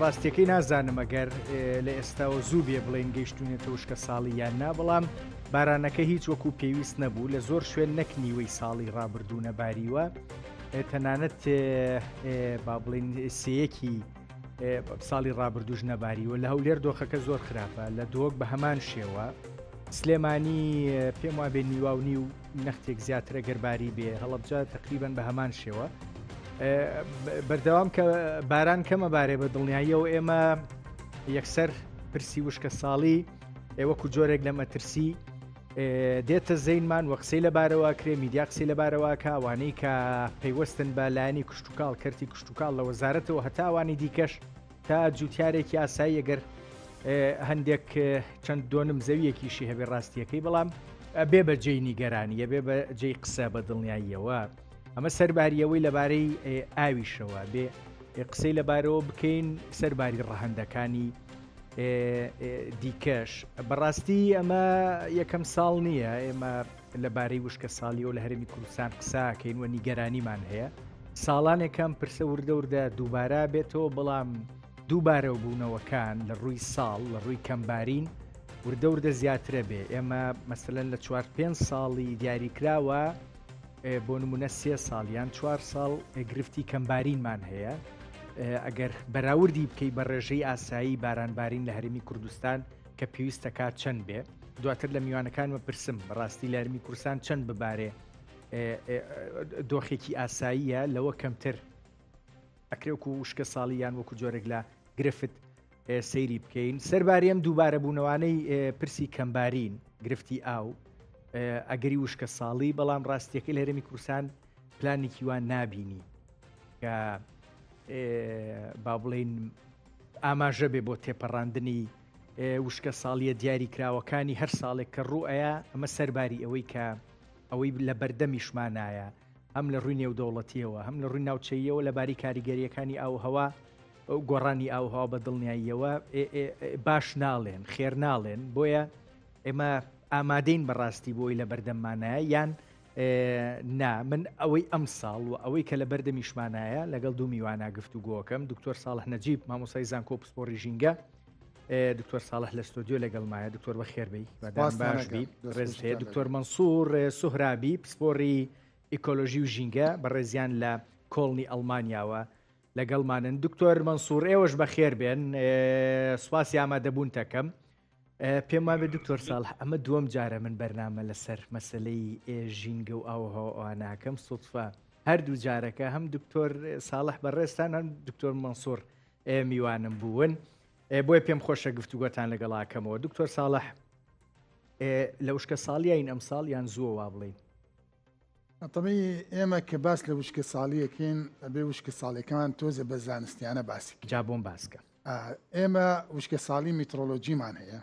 ڕاستیەکەی نازانم ئەگەر لە ئێستاەوە زوو بێ بڵێن گەیشتونێت تۆشکە ساڵی یان نا بەڵام بارانەکە هیچ وەکو پێویست نەبوو لە زۆر شوێن نەک نیوەی ساڵی ڕابردوو نەباریوە تەنانەت با بڵین سەیەکی ساڵی ڕابردوش نەباریوە لە هەولێر دۆخەکە زۆر خراپە لە دۆک بە هەمان شێوە سلێمانی پێم وابێ نیوا و نیو نەختێک زیاتر ئەگەر باری بێ هەڵەبجە تقریبان بە هەمان شێوە بەردەوام کە باران کەمە بارێ بە دڵنیاییەوە ئێمە یەکسەر پرسی وشکە ساڵی ئێوەکو جۆرێک لە مەترسی دێتە زەینمان وە قسەی لەبارەوە کرێ میدیا قسەی لەبارەوە کاوانەی کە پەیوەستن بە لایەنی کوشتتوکاڵ کەرتی کوشتتوکاڵ لە وەزارەتەوە هەتاوانی دیکەش تا جوتیارێک یاسایی ئەگەر هەندێک چەند دۆنم زەویەکیشی هەبێ ڕاستیەکەی بەڵام بێ بە جێی نیگەرانیە بێ بە جێی قسە بە دڵنیاییەوە ئەمە سەرباریەوەی لەبارەی ئاویشەوە بێ قسەی لەبارەوە بکەین سەرباری ڕەهندەکانی دیکەش بەڕاستی ئەمە یەکەم ساڵ نییە ئێمە لەبارەی وشکەساڵیەوە لە هەرێمی کوردستان قساکەین و نیگەرانیمان هەیە ساڵانێکم پرسە وردە وردە دووبارە بێتەوە بەڵام دووبارەو بوونەوەکان لە ڕووی ساڵ لە ڕووی کەمبارین وردە وردە زیاترە بێ ئێمە مەسەن لە چوار پێ ساڵی دیاریکراوە بۆ نمونە سێ ساڵ یان چوار ساڵ گرفتی کەمبارینمان هەیە ئەگەر بەراوردی بکەی بە ڕێژەی ئاسایی بارانبارین لە هەرمی کوردستان کە پێویستە کات چەند بێ دواتر لە میوانەکانمە پرسم بەڕاستی لارمی کورسان چەند ببارێ دۆخێکی ئاساییە لەوە کەمتر ئەکرێوکو وشکە ساڵی یان وەکو جۆرێک لە گرفت سەیری بکەین سەرباریم دووبارە بوونەوانەی پرسی کەمبارین گرفتی ئاو ئەگەری وشکە ساڵی بەڵام ڕاستیەکەی لە هەرمی کورسان پلانێکی وان نابینی کە با بڵین ئاماژە بێ بۆ تێپەڕاندنی وشکە ساڵیە دیاری کراوەکانی هەر ساڵێک کە ڕوو ئەیا ئەمە سەرباری ئەوەی کە ئەوەی لە بەردەمیشمانایە هەم لە ڕووی نێودەوڵەتیەوە هەم لە ڕووی ناوچەیەوە لەباری کاریگەریەکانی ئاو هەوا گۆڕانی ئاوهوا بە دڵنیاییەوە باش ناڵێن خێر ناڵێن بۆیە ئێمە ئامادەین بەڕاستی بۆی لە بەردەممانە یان نا من ئەوەی ئەم ساڵ و ئەوەی کە لە بەردەمیشمانایە لەگەڵ دوو میوانە گفت و گۆکەم دکتۆر ساڵح نەجیب مامۆسای زانکۆ پسپۆری ژینگە دکتۆر ساڵح لە ستۆدیۆ لەگەڵمایە دکتۆر بە خێربی بەداستانبی ڕێز هەیە دکتۆر منسوور سوهرابی پسپۆری ئیکۆلۆژی و ژینگە بە ڕێزیان لە کۆڵنی ئەڵمانیاوە لەگەڵمانن دکتۆر منسوور ئێوەش بە خێر بێن سوپاسی ئامادەبوون تەکەم پێم وابێت دکتۆر ساڵح ئەمە دووەم جارە من بەرنامە لەسەر مەسلەی ژینگە و ئاوهاواناکەم سوتفە هەردوو جارەکە هەم دکتۆر ساڵح بەڕێستان هەم دکتۆر مەسوور میوانم بوون بۆیە پێم خۆشە گفتوگۆتان لەگەڵاکەمەوە دکتۆر ساڵح لە وشکە ساڵیین ئەم ساڵ یان زووە وا بڵین ئەتەمی ئێمە کە باس لە وشکە ساڵیەکەین ئەبێ وشکە ساڵەکەمان تۆزە بە زانستیانە باسی جا بۆم باسکە ئێمە وشکەساڵی میترۆلۆجیمان هەیە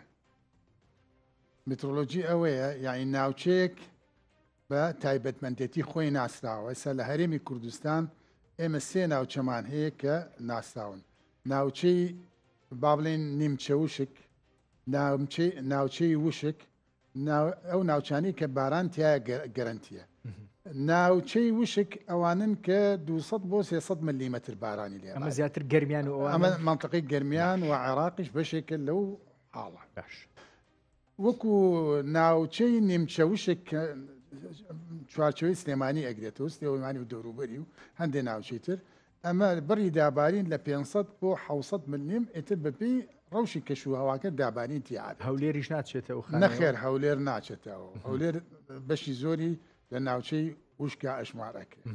میترۆلۆجی ئەوەیە یاین ناوچەیەک بە تایبەتمەندێتی خۆی ناسراوە ئێستا لە هەرێمی کوردستان ئێمە سێ ناوچەمان هەیە کە ناسراون ناوچەی با بڵێن نیمچە وشک ناوچەی وشک ئەو ناوچانی کە باران تایە گەرنتیە ناوچەی وشک ئەوانن کە 200 بۆ 300 ملیمەتر بارانی لێ ئەمە زیاتر گەرمیان و ئەمە منطقی گەرمیان و عێراقیش بەشێکە لەو حاڵە باش وەکو ناوچەی نیمچە وشک چوارچەوەی سلێمانی ئەگرێتەوە سلێمانی و دەوروبەری و هەندێک ناوچەی تر ئەمە بڕی دابارین لە پێنج سەد بۆ حەوت سەد ملم ئیتر بەپێی رەوشی کەش و هەواکە دابارین تیا ئەبێت. هەولێریش ناچێتە ئەو خانەیەوە؟ نەخێر هەولێر ناچێتە ئەو هەولێر بەشی زۆری لە ناوچەی وشکا ئەژمار ئەکرێت.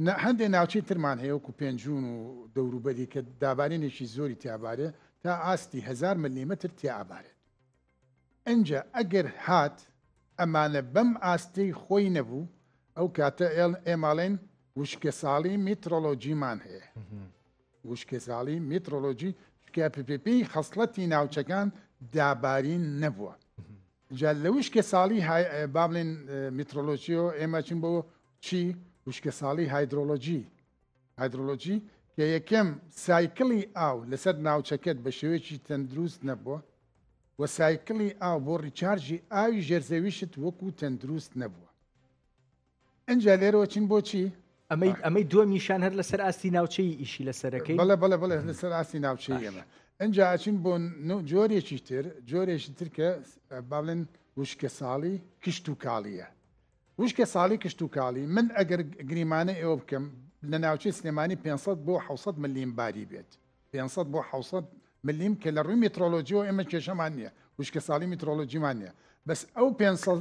نە هەندێک ناوچەی ترمان هەیە وەکو پێنجون و دەوروبەری کە دابارینێکی زۆری تیابارێ تا ئاستی هزار ملیمتر تیا ئابارێت. ئنجا ئەگەر هات ئەمانە بەم ئاستەی خۆی نەبوو ئەو کاتە ئێماڵێن وشکەساڵی میترۆلۆجیمان هەیە وشکەساڵی میترۆلۆجی شکە پپی خەسڵەتی ناوچەکان دابارین نەبووە جا لە وشکە ساڵی بابلێن میترۆلۆژیۆ ئێمە چین بۆ چی وشکە ساڵی هایدرۆلۆژی هایدرۆلۆجی، کە یەکەم سایکڵی ئاو لەسەر ناوچەکەت بە شێوەیەکی تەندروست نەبووە و سایکڵی ئاو بۆ ڕیچارژی ئاوی ژێرزەویشت وەکو تەندروست نەبووە ئەجا لێرەوە چین بۆچی ئەمەی ئەمەی دووەمیشان هەر لەسەر ئاستی ناوچەی ئیشی لە سەرەکەی بەڵێ بەڵێ بڵێ لەسەر ئاستی ناوچەی ئێمە ئەجا ئەچین بۆ جۆرێکی تر جۆرێکی ترکە باڵێن وشکە ساڵی کشت و کاڵیە وشکە ساڵی کشتوکاڵی، من ئەگەر گریمانەی ئەوە بکەم لە ناوچەی سلێمانی پێنج سەد بۆ حەوت سەد ملیم باری بێت، پێنج سەد بۆ حەوت سەد ملیم کە لە ڕووی مترۆلۆجیەوە ئێمە کێشەمان نییە، وشکە ساڵی مترۆلۆجیمان نییە، بەس ئەو پێنج سەد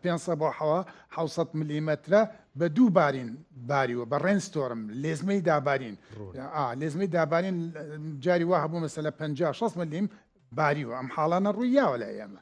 پێنج سەد بۆ حەوا حەوت سەد ملیمەترە بە دوو بارین باریوە بە ڕێن ستۆرم لێزمەی دابارین ڕوون. ئا لێزمەی دابارین اه، جاری وا هەبوو مەسەلە پەنجا شەست ملیم باریوە، ئەم حاڵانە ڕووی یاوە لای ئێمە،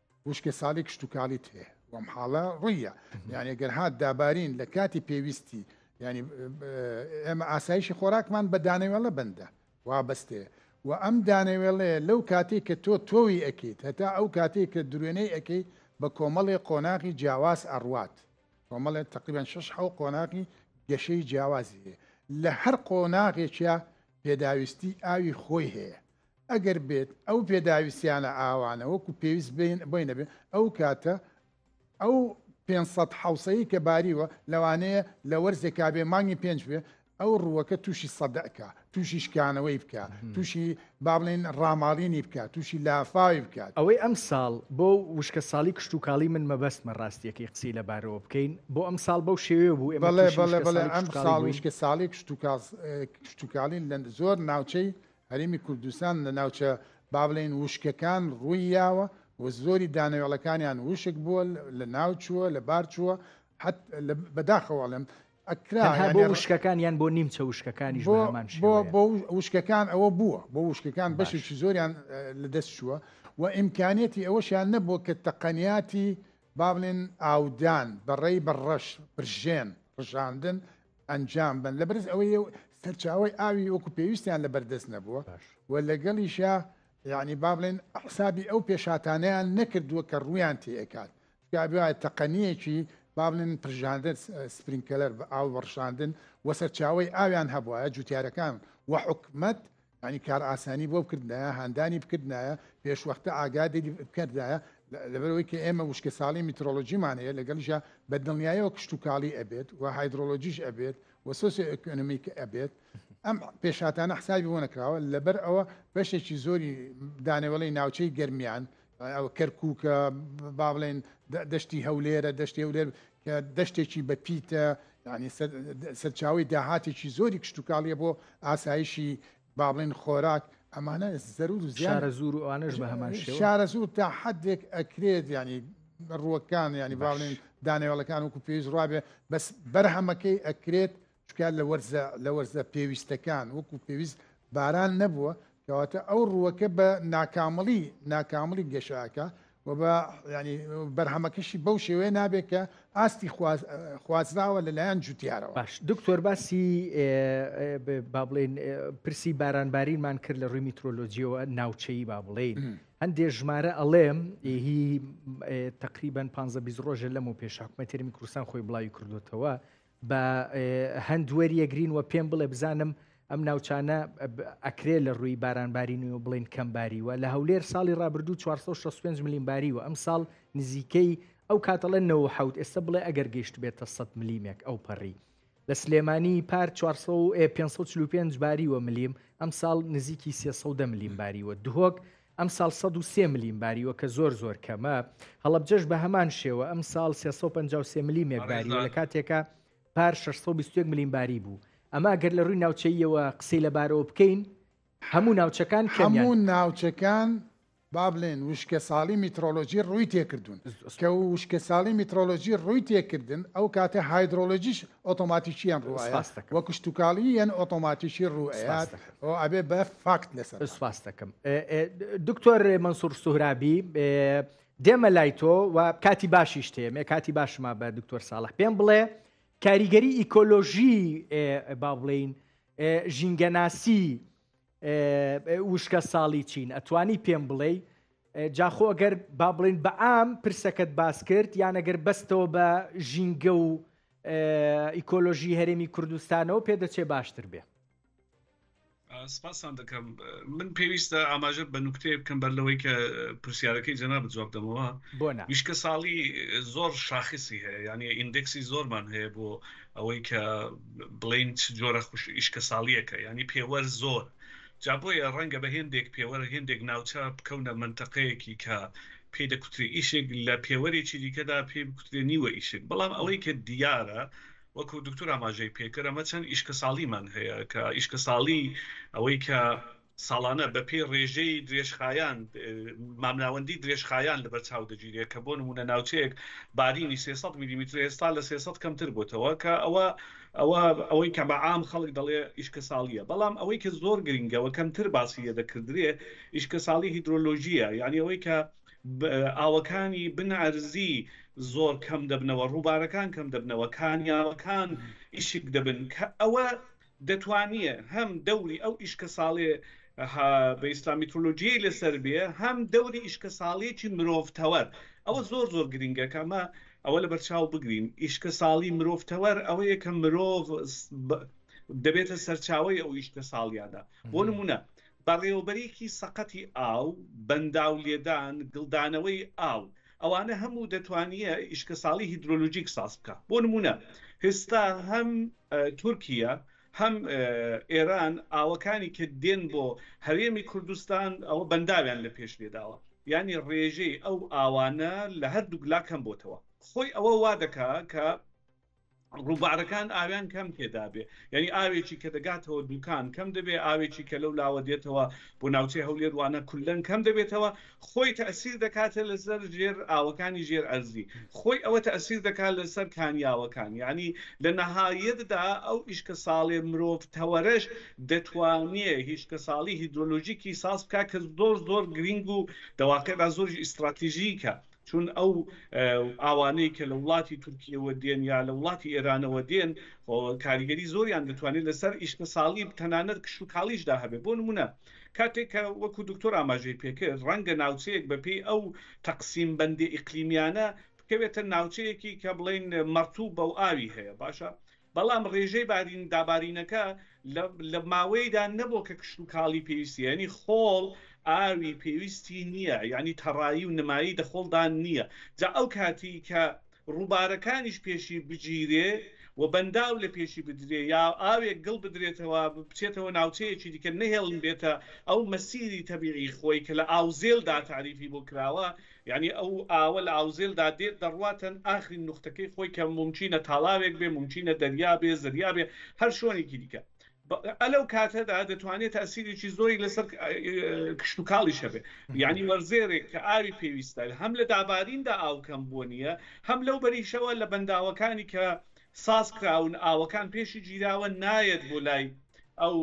وشکە سالی کشتوکالیت هەیە وەم حاڵە ڕویە یانێ گەر هاات دابارین لە کاتی پێویستی ینی ئێمە ئاسایشی خۆراکمان بە دانەوێڵە بندە وابەستێ و ئەم دانەوێڵەیە لەو کاتێک کە تۆ تۆوی ئەکەیت هەتا ئەو کاتێک کە درێنەی ئەەکەی بە کۆمەڵی قۆناغی جیاواز ئەڕوات کۆمەڵێت تقریبان 6 حو قۆناغی گەشەی جیاوازی هەیە لە هەر قۆناغێکە پێداویستی ئاوی خۆی هەیە ئەگەر بێت ئەو پێداویستیانە ئاوانە وەکو پێویست بۆی نەبێت ئەو کاتە ئەو 500 حوسەیە کە باریوە لەوانەیە لە وەرزێکا بێ مانگی پێنج بێ ئەو ڕووەکە تووشی سەدەکە تووشی شکانەوەی بکە تووشی بابلین ڕاماڵینی بکە تووشی لافاوی بکات ئەوەی ئەم ساڵ بۆ وشکە ساڵی کشت و کاڵی من مەبەستمە ڕاستیەکەی قسەی لەبارەوە بکەین بۆ ئەم ساڵ بەو شێوێ بوو ئێمە ئەم ساڵ وشکە ساڵی کشت و کاڵین لە زۆر ناوچەی هەرێمی کوردستان لە ناوچە با بڵێین وشکەکان ڕووی یاوە و زۆری دانەوێڵەکانیان وشک بووە لە ناو چووە لە بار چووە حت بەداخەوەڵێم ئەکرا بۆ وشکەکان یان بۆ نیمچە وشکەکانی بۆ وشکەکان ئەوە بووە بۆ وشکەکان بەشێکی زۆریان لە دەست چووە و ئیمکانیەتی ئەوەشیان نەبووە کە تەقەنیاتی با بڵێن ئاودان بەڕێی بە ڕەش پرژێن ڕژاندن ئەنجام بەن لەبەرز ئەوەی سەرچاوی ئاوی وەکو پێویستیان لە بەردەست نەبووە و لەگەڵیشە یعنی با بڵێن حسابی ئەو پێشاتانیان نەکردووە کە ڕویان تێکات گابێ تەقەنیەکی با بڵێن پرژاندن سپرینکەلەر بە ئاو بەڕشاندن و سەرچاوی ئاویان هەبواە جوتیارەکان و حکومت یانی کار ئاسانی بۆ بکردایە هاندانی بکردایە پێشوەختە ئاگادی بکردایە لەبەرەوەی کە ئێمە وشکە ساڵی میترۆلۆژیمان هەیە لەگەڵژە بە دڵنیایەوە کشتتوکاڵی ئەبێت و هایدرۆلۆژیش ئەبێت و سۆسیۆ ئەکۆنمیک ئەبێت ئەم پێشاتانە حسابی بۆ نەکراوە لەبەر ئەوە بەشێکی زۆری دانەوەڵی ناوچەی گەرمیان ئەوە کەرکووکە، با بڵێین دەشتی هەولێرە، دەشتی هەولێر کە دەشتێکی بەپیتە، یانی سەرچاوی داهاتێکی زۆری کشتتوکاڵیە بۆ ئاسایشی با بڵێن خۆراک ئەمانە زەرور و زیارە زور و ئەوانش بە هەمان شارە زور تا حدێک ئەکرێت ینی ڕووەکان ینی باڵێن دانێوەڵەکان وکو پێویست ڕابێ بەس بەرهەمەکەی ئەکرێت چونکە لە وەرزە لە وەرزە پێویستەکان وەکو پێویست باران نەبووە کەواتە ئەو ڕووەکە بە ناکامڵی ناکامڵی گەشاکە و بە ینی بەرهەمەکەشی بەو شێوەیە نابێت کە ئاستی خوازراوە لەلایەن جوتیارەوە باش دکتۆر باسی با بڵێن پرسی بارانبارینمان کرد لە ڕووی میترۆلۆجیەوە ناوچەی با بڵێن هەندێک ژمارە ئەڵێم هی تقریبان 15 ڕۆژە لەم و پێش حکومەتێرمی کوردستان خۆی بڵاوی کردوتەوە بە هەند وەریەگرین و پێم بڵێ بزانم ئەم ناوچانە ئەکرێ لە ڕووی بارانبارینی و بڵین کەم باریوە لە هەولێر ساڵی رابرردوو 465 ملیم باری و ئەم ساڵ نزیکەی ئەو کاتەڵە 90 ئێستا بڵێ ئەگەر گەشت بێتە 100 ملیمێک ئەو پەڕی لە سلێمانی پار 545 باری وە ملیم ئەم ساڵ نزیکی 300 ملیم باری وە دهۆک ئەمساڵ سەد و سێ ملیم باریوە کە زۆر زۆر کەمە، هەڵەبجەش بە هەمان شێوە ئەمساڵ سێ سەد و پەنجا و سێ ملیمێک باریوە لە کاتێکا پار شەش سەد و بیست و یەک ملیم باری بوو، ئەمە گەر لە رووی ناوچەییەوە قسەی لە بارەوە بکەین هەموو ناوچەکان کەمیان. هەموو ناوچەکان با بڵێین وشکەساڵی میترۆلۆجی رووی تێکردوون، کە وشکەساڵی میترۆلۆجی رووی تێکردن ئەو کاتە هایدرۆلۆجیش ئۆتۆماتیکییان رووئەیات و کشتوکاڵییان ئۆتۆماتیکی رووئەیات، ئەوە ئەبێ بە فاکت لەسەر سوپاستەکەم دکتۆر منسوور سوهرابی دێمە لای تۆ و کاتی باشیش تێمێ کاتی باشما بە دکتۆر ساڵح پێم بڵێ کاریگەری ئیکۆلۆژی با بڵین ژینگەناسی وشکە ساڵی چین ئەتوانی پێم بڵێ جاخۆ ئەگەر با بڵین بە ئام پرسەکەت باس کرد یانەگەر بەستەوە بە ژینگە و ئیکۆلۆژی هەرێمی کوردستانەوە پێدەچێ باشتر بێ سپاستان دەکەم من پێویستە ئاماژە بە نوکتەیە بکەم بەر لەوەی کە پرسیارەکەی جەنا بجواب دەمەوە ویشکە ساڵی زۆر شاخصی هەیە یعنی ئیندکسی زۆرمان هەیە بۆ ئەوەی کە بڵین جۆرە خوش ئیشکە ساڵیەکە ینی پێوەەر زۆر جابۆیە ڕەنگە بە هێندێک پێوەەر هێندێک ناوچە بکەونە منتەقەیەکی کە پێ دەکوتری ئیشێک لە پێوەرێکی دیکەدا پێ بکوترێ نیوە ئیشێک بەڵام ئەوەی کە دیارە وەکو دوکتور ئاماژەی پێکرد ئەمە چەند ئیشکەساڵیمان هەیە کە ئیشکەساڵی ئەوەی کە ساڵانە بە پێی ڕێژەی درێژخایان مامناوەندی درێژخایان لەبەر چاو دەگیرێت کە بۆ نمونە ناوچەیەک بارینی 300 میلیمتر ئێستا لە 300 کەمتر بۆتەوە کە ئەوە ئەوە ئەوەی کە بە عام خەڵک دەڵێ ئیشکەساڵیە بەڵام ئەوەی کە زۆر گرنگەوە کەمتر باسی لێ دەکردرێ ئیشکەساڵی هیدرۆلۆژیە یعنی ئەوەی کە ئاوەکانی بن عەرزی زۆر کەم دەبنەوە، ڕووبارەکان کەم دەبنەوە، کانیاوەکان ئیشک دەبن کە ئەوە دەتوانییە هەم دەوری ئەو ئیشکەساڵێ ها بە ئیسلام میترۆلۆجییەی لەسەر بێ هەم دەوری ئیشکەساڵیی مرۆڤ تەوەر ئەوە زۆر زۆر گرینگە کە ئەمە ئەوە لە بەرچاو بگرین ئیشکەساڵی مرۆڤ تەوەر ئەوەیە کە مرۆڤ دەبێتە سەرچاوەی ئەو ئیشکەساڵییانە بۆ نموونە بەڕێوەبەریی سەقەتی ئاو، بەنداو لێدان، گڵدانەوەی ئاو، ئەوانە هەموو دەتوانیە ئیشکەساڵی هیدرۆلۆژیک ساز بکا. بۆ نموونە هێستا هەم تورکیە هەم ئێران ئاوەکانی کە دێن بۆ هەرێمی کوردستان ئەوە بەنداویان لە پێش لێ داوە. یانی ڕێژەی ئەو ئاوانە لە هەردووک لا کەم بۆتەوە. خۆی ئەوە وا دەکا کە. ڕووبارەکان ئاویان کەم تێدابێ یعنی ئاوێکی کە دەگاتەوە دوکان کەم دەبێ ئاوێکی کە لەو لاوە دێتەوە بۆ ناوچەی هەولێروانە کولەن کەم دەبێتەوە خۆی تەسیر دەکاتە لەسەر ژێر ئاوەکانی ژێر ئەرزی خۆی ئەوە تەسیر دەکات لەسەر کانیاوەکان یعنی لە نەهایەتدا ئەو ئیشکە ساڵێ مرۆڤ تەوەرەش دەتوانێ هیچکە ساڵی هیدرۆلۆژیکی ساز بکە کە زۆر زۆر گرنگ و دەواقعدا زۆر ئیستراتیژیکە چون ئەو ئاوانەی کە لە وڵاتی تورکییەوە دێن یا لە وڵاتی ئێرانەوە دێن کاریگەری زۆریان دەتوانێت لەسەر ئیشکەساڵی تەنانەت کشتوکاڵیشدا هەبێت بۆ نموونە کاتێک کە وەکو دکتۆر ئاماژەی پێکرد ڕەنگە ناوچەیەک بەپێی ئەو تەقسیم بەندی ئیقلیمیانە بکەوێتە ناوچەیەکی کە بڵێن مەڕتوو بەو ئاوی هەیە باشە بەڵام ڕێژەی بارین دابارینەکە لە لە ماوەیدا نەبۆ کە کشتوکاڵی پێویستی یانی خۆڵ ئاوی پێویستی نییە یانی تەڕایی و نمایی دەخۆڵدان نییە جا ئەو کاتی کە ڕووبارەکانیش پێشی بگیرێ و بەنداو لە پێشی بدرێ یا ئاوێک گڵ بدرێتەوە بچێتەوە ناوچەیەکی دیکە نەهێڵن بێتە ئەو مەسیری تەبیعی خۆی کە لە ئاوزێلدا تاریفی بۆ کراوە یانی ئەو ئاوە لە ئاوزێلدا دێت دەڕواتەن ئاخرین نوختەکەی خۆی کە مومکینە تاڵاوێک بێ مومکینە دەریا بێ زریا بێ هەر شۆنێکی دیکە بە ئە لەو کاتەدا دەتوانێت تاسیرێکی زۆری لەسەر کشتتوکاڵیش هەبێ یانی وەرزێرێک کە ئاوی پێویستە هەم لە داباریندا ئاوکەم بۆ نییە هەم لەو بەریشەوە لە بەنداوەکانی کە ساز کراون ئاوەکان پێشی گیراوە نایەت بۆ لای ئەو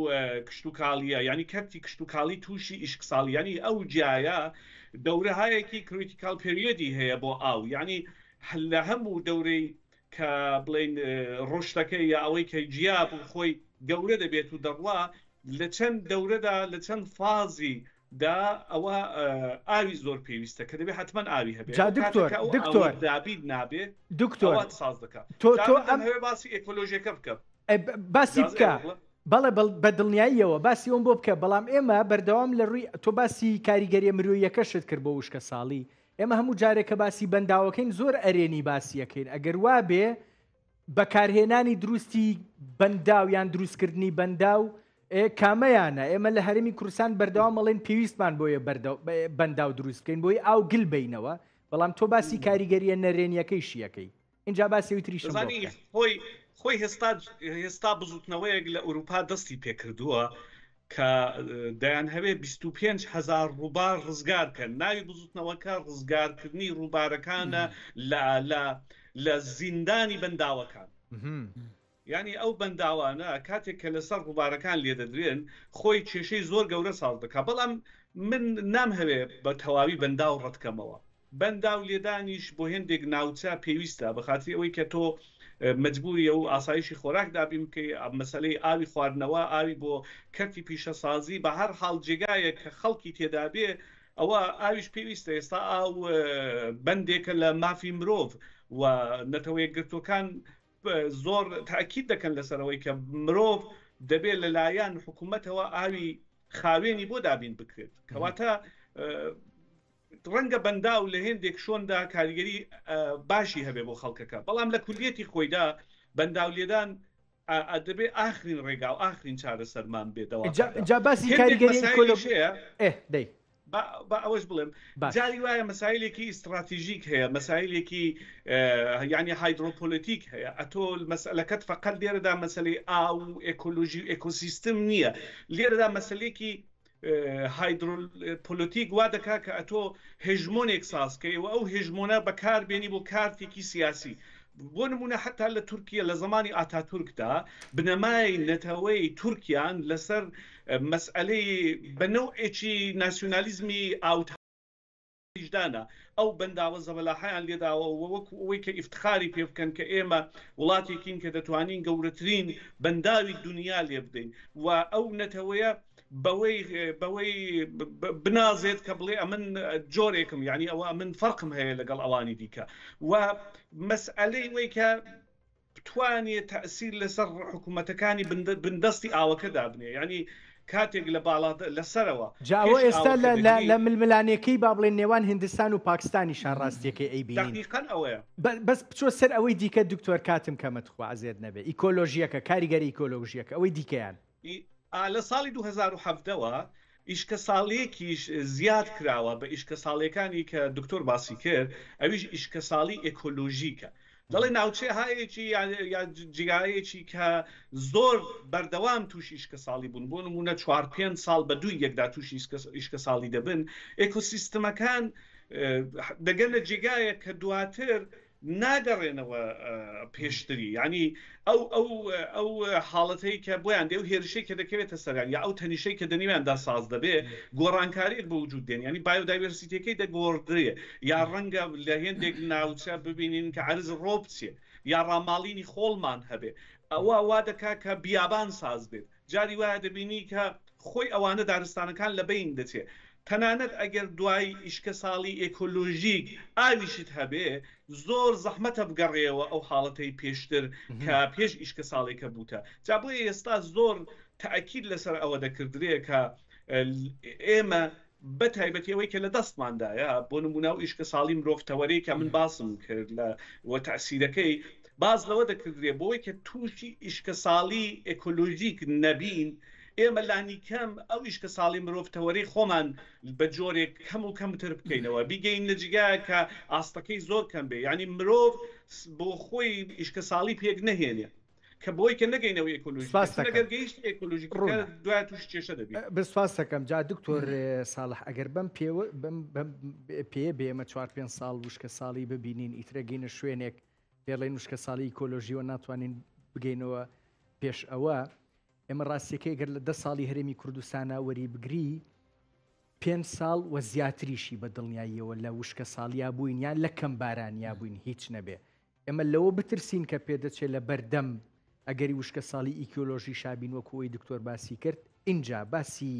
کشتوکاڵیە یانی کەرتی کشتوکاڵی تووشی ئیشک ساڵیانی ئەو جایە دەورەهایەکی کریتیکال پریۆدی هەیە بۆ ئاو یانی لە هەموو دەورەی کە بڵین ڕۆشتەکەی یا ئەوەی کە جیاب و خۆی گەورە دەبێت و دەڕوا لە چەند دەورەدا لە چەند فازی دا ئەوە ئاوی زۆر پێویستە کە دەبێت حتمما ئاوی هەبێت دکتۆر دابیت نابێت دکتۆر ساز دەکات تۆ تۆ ئەم هەوێ باسی ئەکۆلۆژیەکە بکە باسی بکە بەڵێ بە دڵنیاییەوە باسی ئەوم بۆ بکە بەڵام ئێمە بەردەوام لە ڕووی تۆ باسی کاریگەریە مرۆیەکەشت کرد بۆ وشکە ساڵی ئێمە هەموو جارێکە باسی بەنداوەکەین زۆر ئەرێنی باسیەکەین ئەگەر وا بێ بەکارهێنانی دروستی بەنداو یان دروستکردنی بەنداو کامەیانە ئێمە لە هەرمی کوردستان بەردەوام ئەڵێن پێویستمان بۆیە بەنداو دروست بکەین بۆی ئاو گل بینەوە بەڵام تۆ باسی کاریگەریە نەرێنیەکەی شیەکەی اینجا باسی تری خۆی خۆی هێستا هێستا بزوتنەوەیەک لە ئوروپا دەستی پێکردووە کە دەیانهەوێ بیست و پێنج هەزار ڕووبار ڕزگار کەن، ناوی بزوتنەوەکە ڕزگارکردنی ڕووبارەکانە لە لە لە زیندانی بەنداوەکان. یانی ئەو بەنداوانە کاتێک کە لەسەر ڕووبارەکان لێدەدرێن خۆی کێشەی زۆر گەورە ساز دەکا بەڵام من نامهەوێ بە تەواوی بەنداو ڕەتکەمەوە. بەنداو لێدانیش بۆ هێندێک ناوچە پێویستە بە خاتری ئەوەی کە تۆ مەجبوری ئەو ئاسایشی خۆراک دابین بکەی ئەم مەسەلەی ئاوی خواردنەوە ئاوی بۆ کەرتی پیشەسازی بە هەر حاڵ جێگایەک کە خەڵکی تێدابێ ئەوە ئاویش پێویستە ئێستا ئاو بەندێکە لە مافی مرۆڤ و نەتەوەیەکگرتوەکان زۆر تاکیید دەکەن لەسەرەوەی کە مرۆڤ دەبێت لەلایەن حکوومەتەوە ئاوی خاوێنی بۆ دابین بکرێت کەواتە ڕەنگە بەنداو لە هێندێک شۆندا کاریگەری باشی هەبێ بۆ خەڵکەکە بەڵام لە کولیەتی خۆیدا بەنداو لێدان ئەدەبێ ئاخرین ڕێگا و ئاخرین چارەسەرمان بێتەوە جا باسی کاریگەری بە ئەوەش بڵێم جاری وایە مەسایلێکی ئیستراتیژیک هەیە مەسایلێکی ینی هایدرۆپۆلەتیک هەیە ئەتۆل مەسلەکەت فقط لێرەدا مەسلەی ئاو و ئەکۆلۆژی و ئەکۆسیستم نییە لێرەدا مەسلێکی هایدرۆپۆلۆتیک وا دەکات کە ئەتۆ هێژمۆنێک ساز کەی و ئەو هێژمۆنە بەکار بێنی بۆ کارتێکی سیاسی بۆ نمونە حتا لە تورکیا لە زمانی ئاتاتورکدا بنەمای نەتەوەی تورکیان لەسەر مەسئلەی بەنەو ئێکی ناسیۆنالیزمی ئاوت ویژدانە، ئەو بەنداوە زەبەلاحەیان لێداوە و وەکو ئەوەی کە ئیفتخاری پێ بکەن کە ئێمە وڵاتێکین کە دەتوانین گەورەترین بەنداوی دونیا لێ بدەین و ئەو نەتەوەیە بەوەی بەوەی بنازێت کە بڵێ ئەمن جۆرێکم یانی ئەوە من فەرقم هەیە لەگەڵ ئەوانی دیکە و مەسئەلەی وەی کە بتوانێ تەئسیر لەسەر حکومەتەکانی بندەستی ئاوەکە دابنێ یانی کاتێک لە باڵا لەسەرەوە جا ئەوە ئێستا لە ململانێکەی با بڵێن نێوان هندستان و پاکستانیشا ڕاستیەکەی ئەیبینین دەقیقەن ئەوەیە. بەس بچۆ سەر ئەوەی دیکە دکتۆر کاتم کەمە تخوا عەزێت نەبێ ئیکۆلۆژیەکە کاریگەری ئیکۆلۆژیەکە ئەوەی دیکەیان. ی لە ساڵی دوو هەزار و حەڤدە وە ئیشکەساڵیەکیش زیاد کراوە بە ئیشکەساڵیەکانی کە دکتۆر باسی کرد ئەویش ئیشکەساڵی ئێکۆلۆژیکە دەڵێ ناوچەهایەکی یا جیایەکی کە زۆر بەردەوام تووشی ئیشکەساڵی بوون بۆ نموونە چوار پێنج ساڵ بە دووی یەکدا تووشی ئیشکەساڵی دەبن ئێکۆسیستمەکان دەگەنە جێگایەک کە دواتر ناگەڕێنەوە پێشتری یانی ئەو ئەو ئەو حاڵەتەی کە بۆیان دێ و هێرشەی کە دەکەوێتە سەریان یا ئەو تەنیشەی کە دەنیویاندا ساز دەبێ گۆڕانکاریێک بە وجود دێن ینی بایۆدایورسیتەکەی دەگۆڕدرێ یا ڕەنگە لە هێندێک ناوچە ببینین کە عرز ڕۆپچێ یا ڕاماڵینی خۆڵمان هەبێ ئەوە وا دەکا کە بیابان ساز بێت جاری وایە دەبینی کە خۆی ئەوانە دارستانەکان لە بەین دەچێ تەنانەت ئەگەر دوای ئیشکە ساڵی ئێکۆلۆژیک ئاویشت هەبێ زۆر زەحمەتە بگەڕێەوە ئەو حاڵەتەی پێشتر کە پێش ئیشکە ساڵێکە بووتە جا بۆیە ئێستا زۆر تاکیل لەسەر ئەوە دەکردرێ کە ئێمە بە تایبەتی ئەوەی کە لە دەستماندایە، بۆ نموونە ئەو ئیشکەساڵی مرۆڤ تەوەرەی کە من باسم کرد لە و تەئسیرەکەی، باس لەوە دەکردرێ بۆوەی کە تووشی ئیشکەساڵی ئێکۆلۆژیک نەبین، ئێمە لانیکەم ئەو ئیشکەساڵی مرۆڤ تەوەرەی خۆمان بە جۆرێک کەم و کەمتر بکەینەوە، بیگەین لە جیگایەک کە ئاستەکەی زۆر کەم بێ، یانی مرۆڤ بۆ خۆی ئیشکەساڵی پێک نەهێنێ. کە بۆی کە نەگەینەوە ئێکۆلوژی دوای توش کێشە دەبێت بسپاس دەکەم جا دکتۆر ساڵح ئەگەر بم پێ پێ بێمە چوار پێ ساڵ وشکە ساڵی ببینین ئیترەگەینە شوێنێک پێڵێن وشکە ساڵی ئیکۆلۆژیەوە ناتوانین بگەینەوە پێش ئەوە ئێمە ڕاستیەکەی گەر لە دە ساڵی هەرێمی کوردستانە وەری بگری پێ ساڵ و زیاتریشی بە دڵنیاییەوە لە وشکە ساڵیا بووین یان لە کەم بارانیا بووین هیچ نەبێ ئێمە لەوە بترسین کە پێدەچێت لە بەردەم ئەگەری وشکە ساڵی ئیکۆلۆژی شابین وەکوی دکتۆر باسی کرد ئینجا باسی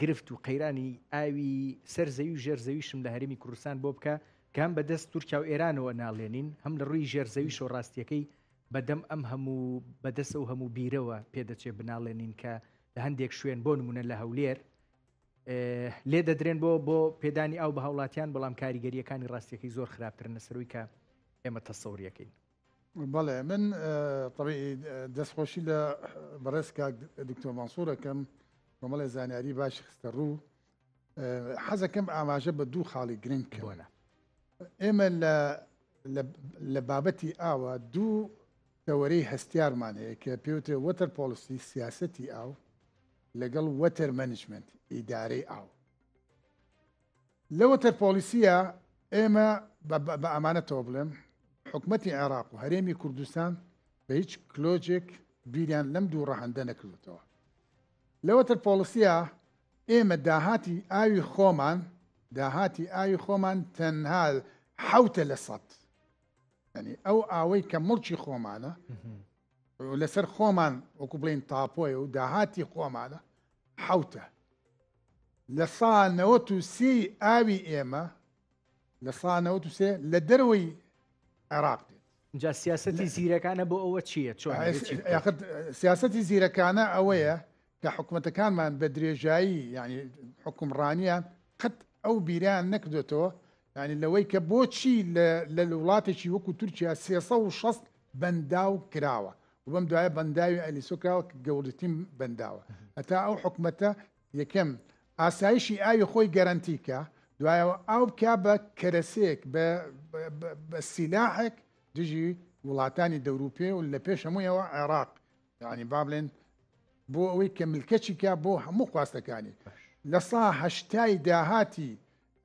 گرفت و قەیرانی ئاوی سەر زەوی و ژێر زەویشم لە هەرمی کوردستان بۆ بکە کام بە دەست تورکیا و ئێرانەوە ناڵێنین هەم لە ڕووی ژێر زەوی شۆڕاستیەکەی بەدەم ئەم هەموو بەدەسە و هەموو بیرەوە پێدەچێ بناڵێنین کە لە هەندێک شوێن بۆ نمونە لە هەولێر لێ دەدرێن بۆ بۆ پێدانی ئەو بە هاوڵاتیان بەڵام کاریگەریەکانی ڕاستیەکەی زۆر خراپترن لەسەروی کە ئێمە تەسەوریەکەین بەڵێ من دەستخۆشی لە بەڕێز کاک دکتۆر ماسۆرەکەم بەمەڵێ زانیاری باش خستە ڕوو حەزەکەم ئاماژە بە دوو خاڵی گرنگ کەوەە ئێمە لە لە بابەتی ئاوە دوو دەوەرەی هەستیارمان هەیە کە پێوتێ وەتەر پۆلیسی سیاستی ئاو لەگەڵ وەتەر مەنجمەنت، ئیدارەی ئاو. لە وەتەر پۆڵیسییە ئێمە بە ئەمانەتەوە بڵێم، حکومەتی عێراق و هەرێمی کوردستان بە هیچ کلۆجێک بیریان لەم دوو ڕەهەندە نەکردێتەوە. لەوەتر پۆڵسیە ئێمە داهاتی ئاوی خۆمان داهاتی ئاوی خۆمان تەنها حوتە لە سەد ئەنی ئەو ئاوەی کە مڵکی خۆمانە لەسەر خۆمان وەکو بڵین تاپۆیە و داهاتی خۆمانە حوتە لە سا نەوە و سی ئاوی ئێمە لە سا نەوە و سێ لە دەرەوەی عێراق دێت جا سیاستی زیرەکانە بۆ ئەوە چییە چۆن سیاستی زیرەکانە ئەوەیە کە حکوومەتەکانمان بە درێژایی ینی حکومڕانیان قەت ئەو بیران نەکردێتەوە یانی لەوەی کە بۆچی لە وڵاتێکی وەکو تورکیا سێ سەد و شەست بەنداو کراوە و بەم دوایە بەنداوی ئەلیسۆ کراوە کە گەوردترین بەنداوە هەتا ئەو حکومەتە یەکەم ئاسایشی ئاوی خۆی گەرەنتی کە دوایەوە ئاو بکە بە کەرەسەیەک بە سیلاحێک دژی وڵاتانی دەوروپێ و لە پێش هەموویەوە عێراق یعنی با بڵێن بۆ ئەوەی کە ملکەچیکە بۆ هەموو خواستەکانی لە ساهشتای داهاتی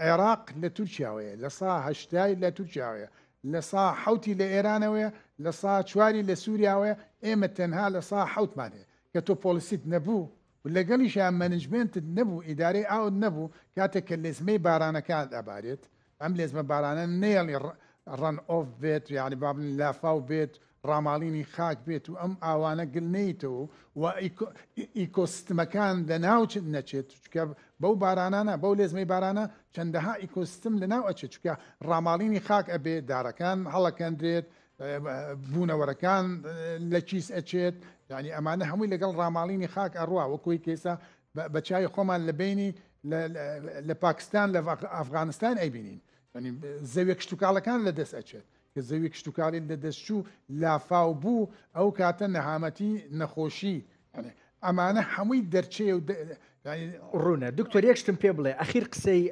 عێراق لە تورکیاوەیە لە سا هەشتای لە تورکیاوەیە لە سا حوتی لە ئێرانەوەیە لە سا چواری لە سووریاوەیە ئێمە تەنها لە سا حوتمان هەیە کە تۆ پۆلیسیت نەبوو و لەگەڵیشیان مەنجمنتت نەبوو ئیدارەی ئاوت نەبوو کاتێک کە لێزمەی بارانەکان ئەبارێت ئەم لێزمە بارانە نێڵی ڕەن ئۆف بێت یعنی بابن لافاو بێت ڕاماڵینی خاک بێت و ئەم ئاوانە گل نەیتەوە و ئیکۆسیستمەکان لە ناو نەچێت چکە بەو بارانانە بەو لێزمەی بارانە چەندەها ئیکۆسیستم لە ناو ئەچێت چکە ڕاماڵینی خاک ئەبێ دارەکان هەڵەکەندرێت بوونەوەرەکان لە کیس ئەچێت یعنی ئەمانە هەمووی لەگەڵ ڕاماڵینی خاک ئەڕوا وەکوی کێسا بە چای خۆمان لە بینی لە پاکستان لە ئەفغانستان ئەیبینین زەوێک شتوکاڵەکان لە دەست ئەچێت کە زەوی کشتوکاڵی لەدەستچوو لافاو بوو ئەو کاتە نەهامەتی نەخۆشی ئەمانە هەمووی دەرچەیە و ڕوونە دکتۆر یەکشتم پێ بڵێ ئەخیر قسەی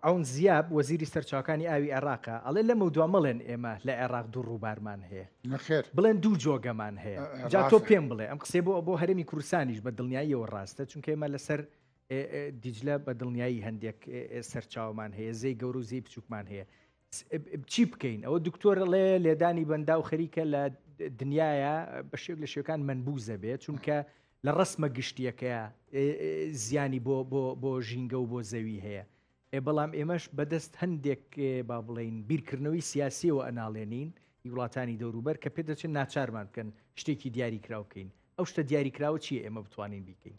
ئەون زیاب وەزیری سەرچاوکانی ئاوی عێراقە ئەڵێ لەمە دو مەڵێن ئێمە لە عێراق دوو ڕووبارمان هەیە نەخێر بڵێن دوو جۆگەمان هەیە جا تۆ پێم بڵێ ئەم قسەی بۆ بۆ هەرمی کوردستانیش بە دڵنیاییەوە ڕاستە چونکە ئێمە لەسەر دیجلە بە دڵنیایی هەندێک سەرچاومان هەیە زەی گەورە و زەی بچووکمان هەیە چی بکەین ئەوە دکتۆر ڵێ لێدانی بەندا و خەریکە لە دنیاە بە شێک لە شێکان منبوزە بێت چونکە لە ڕسمە گشتیەکەیە زیانی بۆ بۆ ژینگە و بۆ زەوی هەیە ئێ بەڵام ئێمەش بەدەست هەندێک با بڵین بیرکردنەوەی سیاسیەوە ئەناڵێنین وڵاتانی دەوروبەر کە پێ دەچێت ناچارمان بکەن شتێکی دیاری کراوکەین ئەو شتە دیاری کراوە چی ئێمە بتوانین بیکەین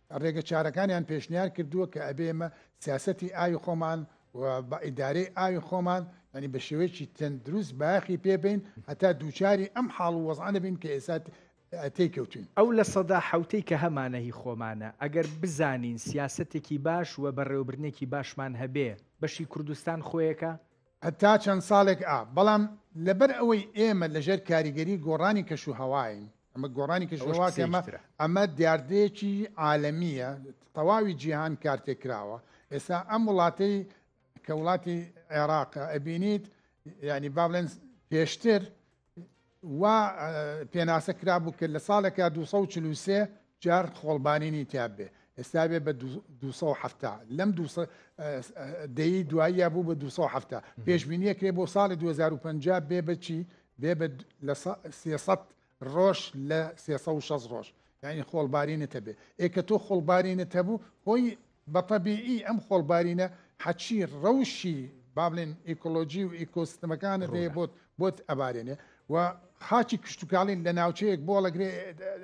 ڕێگە چارەکانیان پێشنیار کردووە کە ئەبێ ئێمە سیاسەتی ئاوی خۆمان و بە ئیدارەی ئاوی خۆمان ینی بە شێوەیەکی تەندروست بایەخی پێبین هەتا دووچاری ئەم حاڵ و وەزعە نەبین کە ئێستا تێکەوتوین. ئەو لە سەدا حەوتەی کە هەمانە هی خۆمانە، ئەگەر بزانین سیاسەتێکی باش و بەڕێوەبردنێکی باشمان هەبێ، بەشی کوردستان خۆیەکە، هەتا چەند ساڵێک ئا، بەڵام لەبەر ئەوەی ئێمە لەژێر کاریگەری گۆڕانی کەشوهەواین، ئەمە گۆڕانی کەشوهەوا کە ئەمە، ئەمە دیاردەیەکی عالەمییە، تەواوی جیهان کارتێکراوە، ئێستا ئەم وڵاتەی کە وڵاتی عێراقە ئەبینیت یانی با بڵێن پێشتر وا پێناسە کرابوو کە لە ساڵێکا دوو سەد و چل و سێ جار خۆڵبارینی تیا بێ ئێستا بێ بە دوو سەد و حەفتا لەم دوو سە ئە ئە دەیی دواییە بوو بە دوو سەد و حەفتا پێشبینییە کرێ بۆ ساڵی دوو هەزار و پەنجا بێ بە چی بێ بە لە سە سێ سەد ڕۆژ لە سێ سەد و شەست ڕۆژ یانی خۆڵبارینت هەبێ ئێ کە تۆ خۆڵبارینت هەبوو هۆی بە تەبیعی ئەم خۆڵبارینە حەچی ڕەوشی با بڵێن ئیکۆلۆژی و ئیکۆسیستمەکانت هەیە بۆت ڕوونە. بۆت ئەبارێنێ و خاچی کشتوکاڵی لە ناوچەیەک بۆڵەگرێ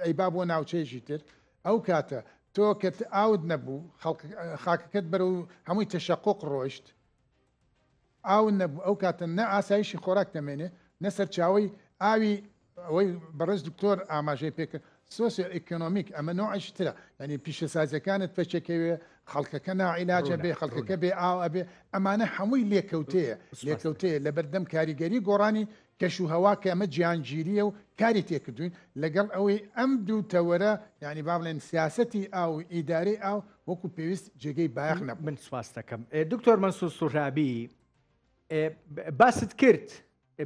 ئەیبا بۆ ناوچەیەکی تر ئەو کاتە تۆ کە ئاوت نەبوو خەڵک اه، خاکەکەت بەرەو هەمووی تەشەقوق ڕۆیشت ئاون نەبوو ئەو کاتە نە ئاسایشی خۆراک دەمێنێ نە سەرچاوەی ئاوی ئەوەی بەڕێز دکتۆر ئاماژەی پێکرد سۆسیۆ ئیکۆنۆمیک ئەمە نوعیش ترە یعنی پیشەسازیەکانت پێچەکەوێ خەڵکەکە ناعیلاجە بێ خەڵکەکە بێ ئاو ئەبێ ئەمانە هەمووی لێکەوتەیە لێکەوتەیە لە بەردەم کاریگەری گۆڕانی کەش و هەوا کە ئەمە جیهانگیرییە و کاری تێ کردووین، لەگەڵ ئەوەی ئەم دوو تەوەرە یانی با بڵێن سیاسەتی ئاو و ئیدارەی ئاو وەکوو پێویست جێگەی بایەخ نەبوو. من سپاست دەکەم. دکتۆر مەنسوور سوهرابی، باست کرد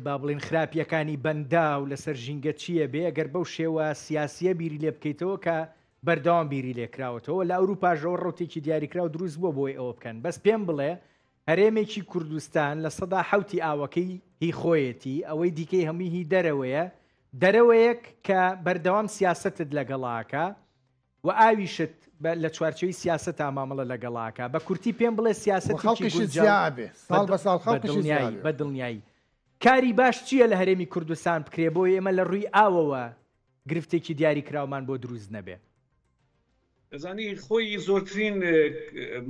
با بڵێن خراپییەکانی بەنداو لەسەر ژینگە چییە، بێ ئەگەر بەو شێوە سیاسییە بیری لێ بکەیتەوە کە بەردەوام بیری لێ کراوەتەوە، لە ئەورووپاشەوە ڕەوتێکی دیاریکراو دروست بووە بۆی ئەوە بکەن، بەس پێم بڵێ هەرێمێکی کوردستان لە سەدا حەوتی ئاوەکەی هی خۆیەتی ئەوەی دیکەی هەمووی هی دەرەوەیە دەرەوەیەک کە بەردەوام سیاسەتت لەگەڵاکە و ئاویشت لە چوارچەوی سیاسەت تا مامەڵە لەگەڵاکە بە کورتی پێم بڵێ سیاسی بە دڵنیایی کاری باش چییە لە هەرێمی کوردستان بکرێ بۆی ئێمە لە ڕووی ئاوەوە گرفتێکی دیاری کراومان بۆ دروست نەبێ. دەزانی خۆی زۆرترین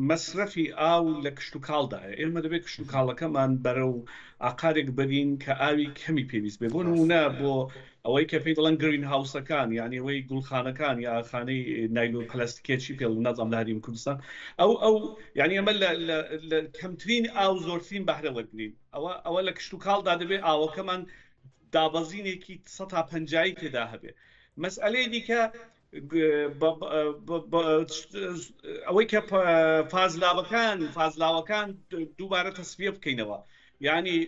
مەسرەفی ئاو لە کشتوکاڵدایە، ئێمە دەبێ کشتوکاڵەکەمان بەرەو ئاقارێک بەرین کە ئاوی کەمی پێویست بێ، بۆ نموونە بۆ ئەوەی کە پێی دەڵێن گرین هاوسەکان یانی ئەوەی گوڵخانەکان یا خانەی نایلۆن پلاستیکیە چی پێڵ نازانم لە هەریم کوردستان ئەو ئەو یانی ئەمە لە کەمترین ئاو زۆرترین بەهرە وەرگین ئەوە ئەوە لە کشتوکاڵدا دەبێ ئاوەکەمان دابەزینێکی سەد تا پەنجایی تێدا هەبێ مەسئەلەی دیکە ئەوەی کە فازلاوەکان فازلاوەکان دووبارە تەسفە بکەینەوە ینی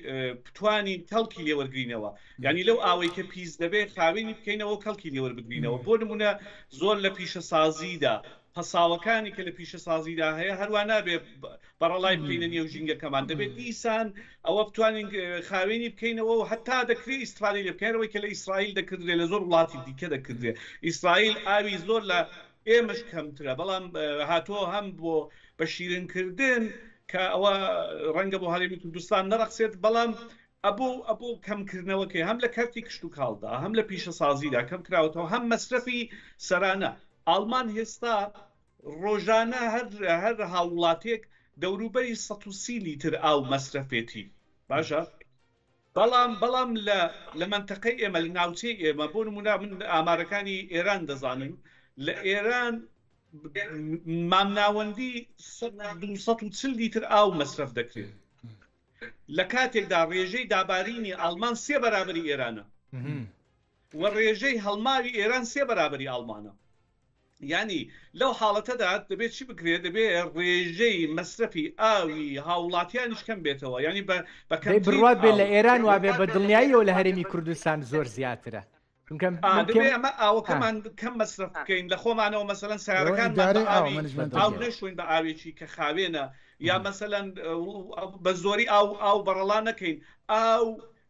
بتانی کەڵکی لێوەرگینەوە ینی لەو ئاوەی کە پیس دەبێت خاوێنی بکەینەوە کەڵکی لێوەربگرینەوە بۆ نمونە زۆر لە پیشە سازیدا پەساوەکانی کە لە پیشەسازیدا هەیە هەروە نابێ بەڕەڵای بکەینە نێو ژینگەکەمان دەبێت دیسان ئەوە بتوانین خاوێنی بکەینەوە و هەتا دەکرێت ئیسرائیل لە بکەرەوەی کە لە ئیسرائیل دەکردێت لە زۆر وڵاتی دیکە دەکردێت ئیسرائیل ئاوی زۆر لە ئێمەش کەمترە بەڵام هاتووە هەم بۆ بە شیرنکردن کە ئەوە ڕەنگە بۆ هەرێمی کوردستان نەڕەخسێت بەڵام ئەبوو کەمکردنەوە کەی هەم لە کەرتی کشت و کاڵدا هەم لە پیشە سازیدا کەم کراوەەوە هەم مەسرەفی سەرانە ئاڵمان هێستا ڕۆژانە هەر هەر هاوڵاتێک دەوروبەری 130 لیتر ئاو مەسرەفێتی باشە بەڵام بەڵام لە لە منتەقەی ئێمە لە ناوچەی ئێمە بۆ نمونا من ئامارەکانی ئێران دەزانم لە ئێران مامناوەندی 240 لیتر ئاو مەسرف دەکرێت لە کاتێکدا ڕێژەی دابارینی ئاڵمان سێ بەرابەری ئێرانە و ڕێژەی هەڵماوی ئێران سێ بەرابەری ئاڵمانە ینی لەو حاڵەتەدا دەبێت چی بکرێت دەبێت ڕێژەی مەسرەفی ئاوی هاوڵاتیانیش کەم بێتەوە ینی بە بەکەم بڕات بێت لە ئێران وابێ بە دڵنیاییەوە لە هەرێمی کوردستان زۆر زیاترە ئەمە ئاوەکەمان کەم مەسرف بکەین لە خۆمانەوە مەسەەن سارەکان نەشوین بە ئاوێکی کە خاوێنە یا مەسەەن بە زۆری ئاو ئاو بەڕەڵا نەکەین ئاو